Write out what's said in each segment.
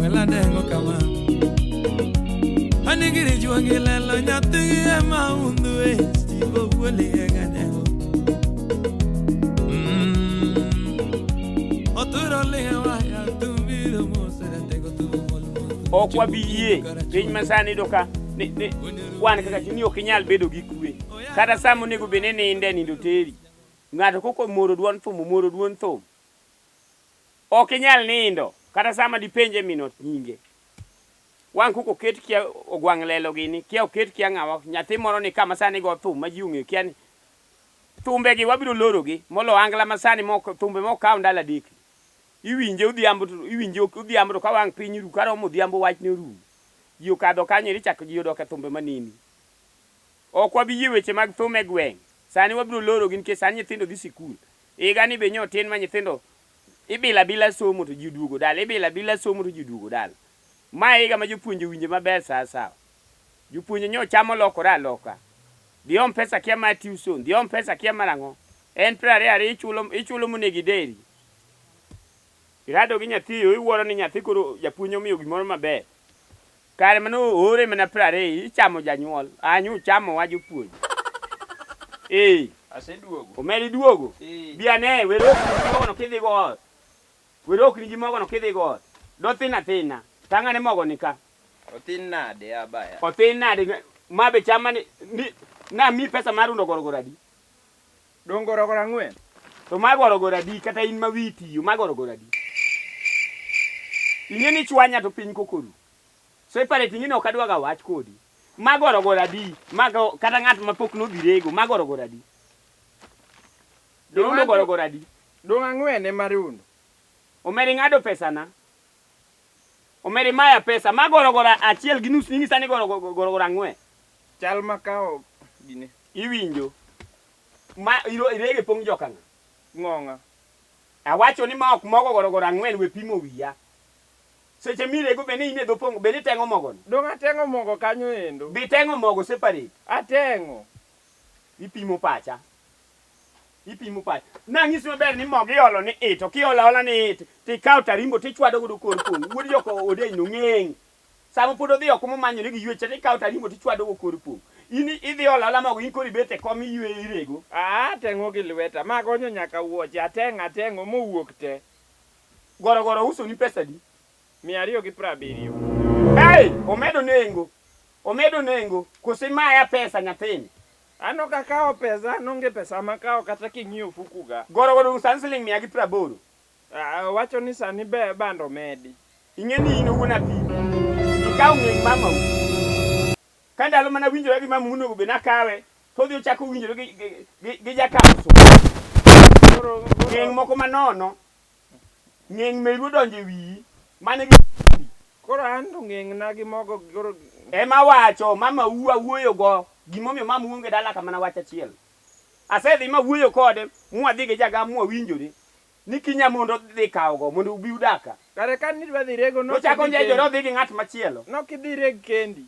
weladeng'o kama anigiri juogi lelo nyathigi ema undhu e stivo wuoli egadeng'o oturo lihewa yatumbiro moseretego ok wabi yie piny masani do ka wan kaka chuni ok inyal bedo gi kwe kata sa monego bed ni ninde nindo teri ng'ato koko moro duon thum omoro duon thum Ok inyal nindo kata sama dipenje min ot nyinge. Wang' kuku oket kia ogwang' lelo gini, kia oket kia ng'awa. Nyathi moro ni ka masani go thum ma ji ong'eyo kia ni thumbe gi wabiro lorogi molo angla masani mok thumbe mok kaw ndalo adek. Iwinje odhiambo to iwinje odhiambo to ka wang' piny ru karomo odhiambo wachne orumo. Ji okadho kanyo eri chak ji odok e thumbe maneni. Ok wabi yie weche mag thum e gweng'. Sani wabiro lorogi nikech sani nyithindo dhi sikul. Higani be nyo tin ma nyithindo ibila bila somo to ji oduogo dala, ibila bila somo to ji oduogo dala. Ma e higa ma jopuonje owinje maber saa asawa. Jopuonje nyo cham olokore aloka. Dhiom pesa kia ma tuition, dhiom pesa kia mar ang'o. En piero ariyo ariyo ichulo, ichulo monego ideri. Irado gi nyathi iwuoro ni nyathi koro japuonj omiyo gimoro maber. Kare mane oore mana piero ariyo ichamo janyuol anyo uchamowa jopuonj ee. Aseduogo. Omeri duogo. Ee. Bi ane were ok nigi mogo no kidhi go ot. Were ok nigi mogo no kidhi go ot. Dothin athina. Tang' ane mogo ni ka. Othin nade a baya. Othin nade ma be cham mane ni namiyi pesa mar rundo gorogoro adi. Dong' gorogoro ang'wen. To ma gorogoro adi kata in ma wiyi tiyo ma gorogoro adi? Ing'e ni ichwanya to piny koko ru. Separate ing'e ni ok adwa ga wach kodi. Ma gorogoro adi ma kata ng'at ma pok nodhi rego ma gorogoro adi? Dorundo gorogoro adi? Dong' ang'wen ema rundo. Omera ing'ado pesana. Omera imaya pesa. Ma gorogoro achiel gi nus ing'isa ni gorogoro ang'wen. Chal ma ka ok gine. Iwinjo. Ma iro irege pong joka ng'a? Ng'ong'a. Awacho ni ma ok mogo gorogoro ang'wen we pimo wiya. Seche mirego be ne in e dho pong be niteng'o mogo no? Dong' ateng'o mogo kanyo endo. Be iteng'o mogo separate? Ateng'o. Ipimo pacha. Ipimo pacha. Nang'isi maber ni mogo iolo ni it. Ok iolo aola ni it. Tikawo tarimbo tichwado godo kor pong. Wuod joka Odeny no ng'eng'. Sama pod odhi oko momanyo ni giywecha to ikawo tarimbo to ichwado go kor pong'. In idhi olo aola mogo in koro ibet e kom iyweyo irego. Aa ateng'o gi lweta ma agonyo nyaka wuoche, ateng'o ateng'o mowuok te. Goro goro ousoni pesa adi? Mia ariyo gi prabiriyo. Hey! Omedo nengo! Omedo nengo! Koso imaya pesa nyathini? An ok akawo pesa, an onge pesa makawo kata king'iyo ofuku ga. Goro goro sani siling' mia gi praboro. Wacho ni sani be bando medi. Ing'e ni in wuon apiko, ikawo ng'eng mamau. Ka ndalo mane awinjora gi mamau nonego bed ni akawe, to odhi ochako winjore gi gi gi jakawo sum. Koro ng'eng moko manono, ng'eng meru odonjo e wiyi, mano e gima chandi. Koro an to ng'eng na gi mogo koro. Ema awacho, mamau awuoyo go, gima omiyo mamau onge dala ka mana wach achiel. Asedhi mawuoyo kode, mwadhi gi jagam mwawinjore ni kinya mondo odhi kawogo mondo ubi udag ka. Kare kane idwa dhi rego ne ok idhi kendi. Nochako onjejore odhi gi ng'at machielo. Ne ok idhi ireg kendi.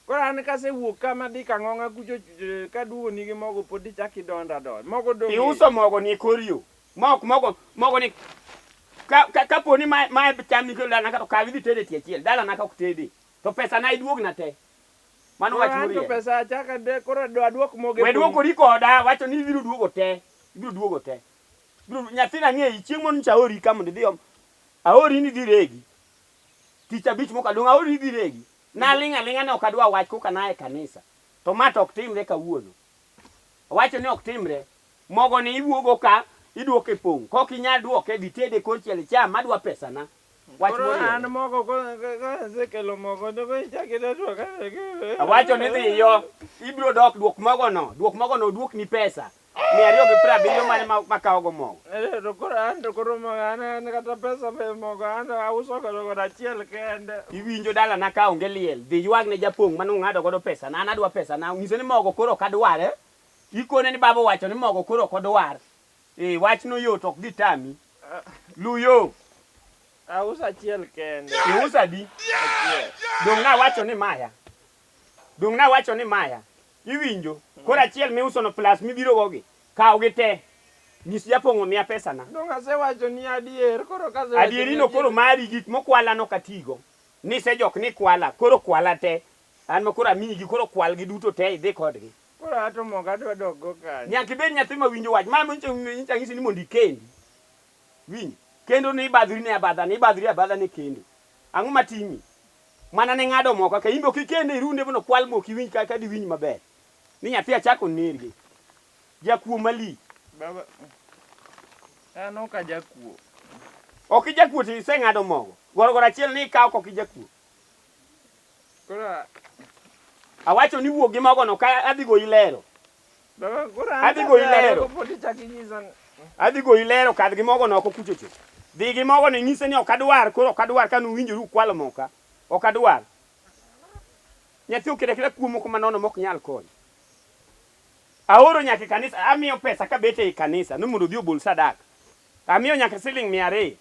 Koro an kasewuok ka madhi Kang'ong'a kucho kaduogoni gi mogo pod ichako idonda adonda. Mogo dong' e yo. Iuso mogoni e kor yo. Ma ok mogo, mogoni kapo ni ma e cham mikelo dalana ka to kaw idhi ited e tie achiel. Dalana ka ok tedee. To pesana iduogna te. Mano wach moriere. Anto pesa achaka de koro do aduok moge. We duokori koda, wacho ni ibiro duogo te. Ibiro duogo te. Ibiro nyathina ng'eyi chieng' moro nyicha aori ka mondo idhi om. Aori ni idhi regi. Tich abich mokalo dong' aori ni idhi regi. Naling' aling'a ne ok adwa wach koka na e kanisa. To ma to ok timre kawuono. Awacho ni ok timre. Mogo ni iwuogo ka iduoke pong'. Kok inyal duoke dhi tede kor chiel icham. Adwa pesana. Wach Koro moriere. an mogo ko- ka- ka asekelo mogo to koro ichak ida to ka- Awacho ni dhiyo, ibiro dok duok mogono. Duok mogono oduokni pesa mia ariyo gi piero abiriyo mane ma- makawogo mogo. Eh, to koro an to koro mogo an an kata pesa be mogo an to auso godo godo achiel kende. Iwinjo dalana ka onge liel, dhi ywag ne japong' mane ung'ado godo pesa na, an adwa pesa na. Nyise ni mogo koro ok adware. Ikone ni baba owacho ni mogo koro ok odwar. Ee, wachno yot, ok gitami. Luw yo. Auso achiel kende. Iuso adi? Achiel. Donge nawacho ni maya? Donge nawacho ni maya? Iwinjo? Koro achiel miusono plus mibirogogi, kawgi te. Nyis japong'o omiya pesana. Donge asewachoni adier? Koro kasewachoni adier. Adierino koro mari, gik mokwalano ok atigo. Nisejok ni ikwala, koro kwala te. An ma koro amiyigi, koro kwalgi duto te idhi kodgi. Koro ato mogo adwa dok go kanye. Nyaka ibed nyathi ma winjo wach. Ma nyicha nyicha nyisi ni mondo ikendi. Winjo. Kendo ne ibadhori ne abadha ne ibadhori abadha ne kendo. Ang'o ma timi? Mana ne ng'ado mo kaka imbe ok ikende irunde mondo kwal mo ok iwinj kaka diwinj maber. Ni nyathi achako onergi. Jakuo malich. Baba. An ok ajakuo. Ok ijakuo to iseng'ado mogo. Gorogoro achiel ni ikawo kok ijakuo. Awacho ni wuog gi mogono ka adhi goyi lero. Adhi goyi lero. Adhi goyi lero kadh gi mogono oko kuchocho. Dhi gi mogono inyise ni ok adwar koro ok adwar ka nuwinjoru ukwalo moka. Ok adwar. Nyathi okeda keda kuo moko manono mok nyal kony. Aoro nyaka e kanisa, amiyo pesa kabet ei kanisa ni mondo odhi obol sadaka. Amiyo nyaka siling mia ariyo.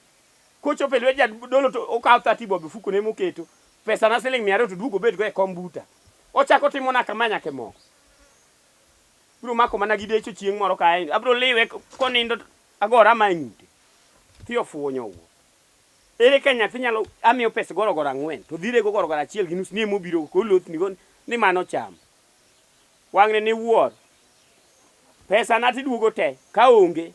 Kochopo e lwet jadolo to okawo 30 bob e fukone moketo pesana siling' mia ariyo to oduogo obetgo e kom buta. Ochako otimona kama nyaka e mogo. Biro mako mana gi decho chieng' moro ka ahinya. Abiro liwe konindo to agora ma e ng'ute. Thi ofuwo nyowuoyo. Ere ka nyathi nyalo amiyo pes gorogoro ang'wen to odhi rego gorogoro achiel gi nus ni ema obirogo koro olothnigo ni mano ochamo. Wang'ne ne wuoro. Pesana to iduogo te ka onge.